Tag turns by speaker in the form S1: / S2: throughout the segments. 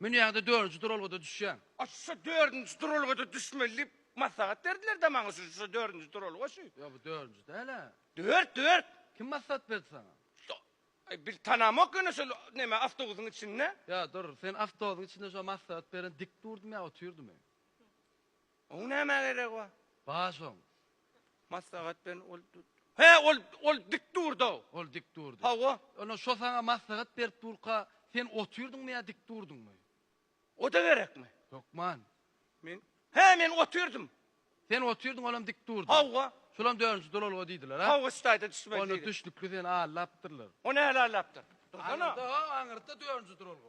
S1: Münýäňde
S2: dördünji duralgada düşýäň. Aç şo dördünji
S1: duralgada düşmeli diýip maslahat berdiler da maňa şu şo dördünji duralga şu. Ýok bu dördünji dälä.
S2: Dört dört.
S1: Kim maslahat berdi
S2: saňa? Şo Aý bir
S1: tanamok ýöne şol neme awtobusyň içinde. Ýa dur sen
S2: awtobusyň içinde şo maslahat beren dik durdum ýa otyrdymy? Oň
S1: nämä geregi bar? Bar şoň.
S2: Maslahat
S1: beren ol He, ol, ol dik durdy-ow. Ol dik durdy. Hawa.
S2: Onda şo saňa maslahat berip durka, sen otyrdyňmy ýa dik durdyňmy? O-da
S1: gerekmi? Hökman.
S2: Men, he,
S1: men otyrdym. Sen otyrdyň,
S2: olam dik durdy. Hawa. Şolam dördünji
S1: duralga
S2: diýdiler, ha? Hawa, staýda düşmeli Onda diýdi.
S1: düşlükli seni
S2: allapdyrlar. O nähili allapdyr?
S1: Dursana. Aňyrda, ho,
S2: aňyrda dördünji duralga.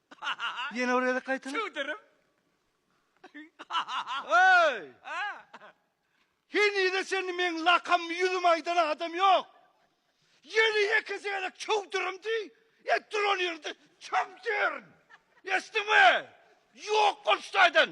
S3: Ýene bir gezek gaýtala. Çöwdürip. Hey! Henize çenli meň lakammy ýüzüme aýdan adam ýok. Ýene ýekesi gezek çöwdürüm diý. Ýa duran ýerinde çöwdür. Eşitdiňmi? Ýok bolşudaýdan.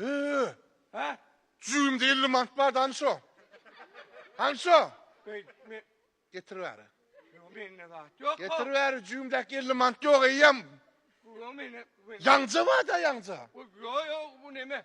S1: Ee, Hä? cüýümde elli
S4: manat bardy, hany şo? Hany şo? Beý, men Getir bäri. Ýok, mende
S1: zat ýok. Getir bäri,
S4: cüýümdäki elli manat ýok eýýäm. Ýok, mende. Ýaňja barda ýaňja. Ýok, ýok, bu
S1: neme?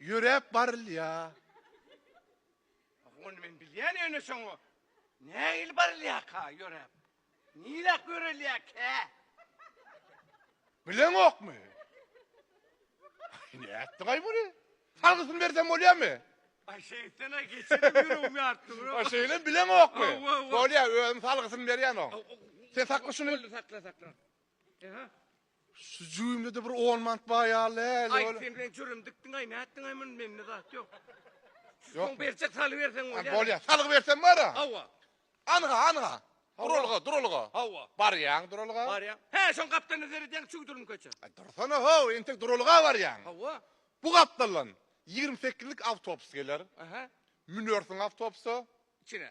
S1: Ýöräp
S4: barylýar.
S1: Ony men bilýän ýöne şoňa nähili barylýarka ýöräp? Niräk ýörelýärkä?
S4: Bileňokmy? Nätdiňaý muny? Salgysyny bersem bolýarmy? Ay şeytana
S1: geçirip yürüyüm yarttı bro. Ha şeýle bileňok
S4: mu? Aw, aw, aw. Bolýar, özüm
S1: salgysyny
S4: berýän o. Sen sakla şuny. Sakla sakla. Eha. Şu jüwimlede bir on mant bar ýaly äli Aý sen men jürüm
S1: dikdiňaý nätdiňaý muny mende zat ýok. Ýok.
S4: Berçek saly
S1: berseň bolýar. Bolýar. Salgy bersem bar a.
S4: Hawa. Anha
S1: anha.
S4: Duralga duralga. Hawa. Barýaň
S1: duralga.
S4: Barýaň. Hä şoň
S1: gapdalynda seredýäň çüw durun köçe. Aý dursana ho
S4: entek duralga barýaň. Hawa. Bu
S1: gapdaldan
S4: ýigrimi sekizlik awtobus geler. Aha.
S1: Münersiň
S4: awtobusa. Içine.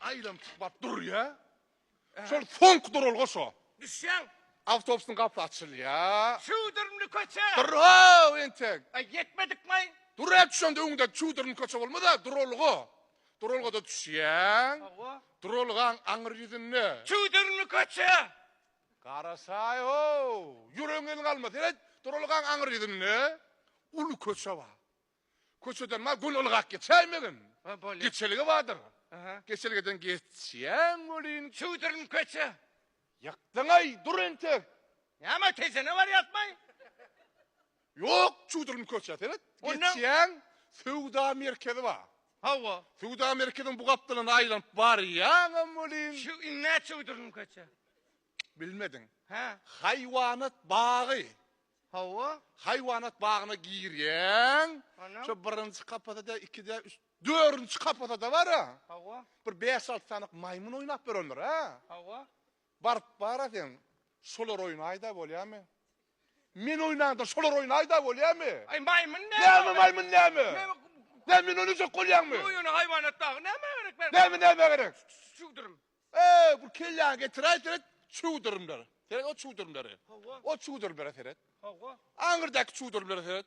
S4: Aýlanyp çykmap durýa. Şol soňky duralga şo. Düşýäň.
S1: Awtobusyň gapysy açylýa.
S4: Çüwdürmli
S1: köçe. Dur
S4: how
S1: entek. A
S4: ýetmedik maý. Dur hä düşende öňündäki çüwdürmli köçe bolmasa duralga. Duralgada düşýäň. Hawa. Duralgaň
S1: aňyr
S4: ýüzünde. Çüwdürmli köçe.
S1: Garaşaý
S4: how, ýüregiň ýyl galma, seret, duralgaň aňyr ýüzünde uly köçe bar. Köçeden bar gün ylgap geçäýmegin. Ha, bolýar. Geçelge
S1: bardyr. Aha.
S4: Geçelgeden geçýäň welin, Çüwdürin köçe.
S1: ýykdyň-aý,
S4: dur entek. Näme, tejene
S1: barýasmy?
S4: Ýok çuduryny köçä seret geçýäň söwda merkezi bar. Hawa. Söwda
S1: merkeziň
S4: bu gapdalynda aýlanyp barýaňam welin. Şu ine çuduryny
S1: köçä. Bilmediň.
S4: Hä.
S1: Haýwanat
S4: bagy. Hawa.
S1: Haýwanat
S4: bagyna girýäň. Şu birinji
S1: kapasada
S4: ikide üç dördünji kapasada bar-a. Hawa. Bir bäş
S1: alty sany
S4: maýmyn oýnap ýörendir-ä. Hawa.
S1: Baryp bara
S4: sen şolar oýnaýda bolýamy? Men oýnanda şolar oýnaýda bolýamy? Aý maýmyn
S1: näme? Näme maýmyn näme?
S4: Näme men
S1: oýnajak bolýaňmy?
S4: Ýok ýöne haýwanat dagy
S1: nämä gerek berk. Näme nämä gerek?
S4: Çüwdürüm.
S1: Eý bu
S4: kelläňi getiräý seret çüwdürümler. Seret o çüwdürümleri. Hawa. O çüwdürümlere
S1: seret.
S4: Hawa. Aňyrdaky
S1: çüwdürümlere
S4: seret.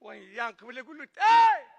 S1: Oý, ýaňky bile gülüt. Eý!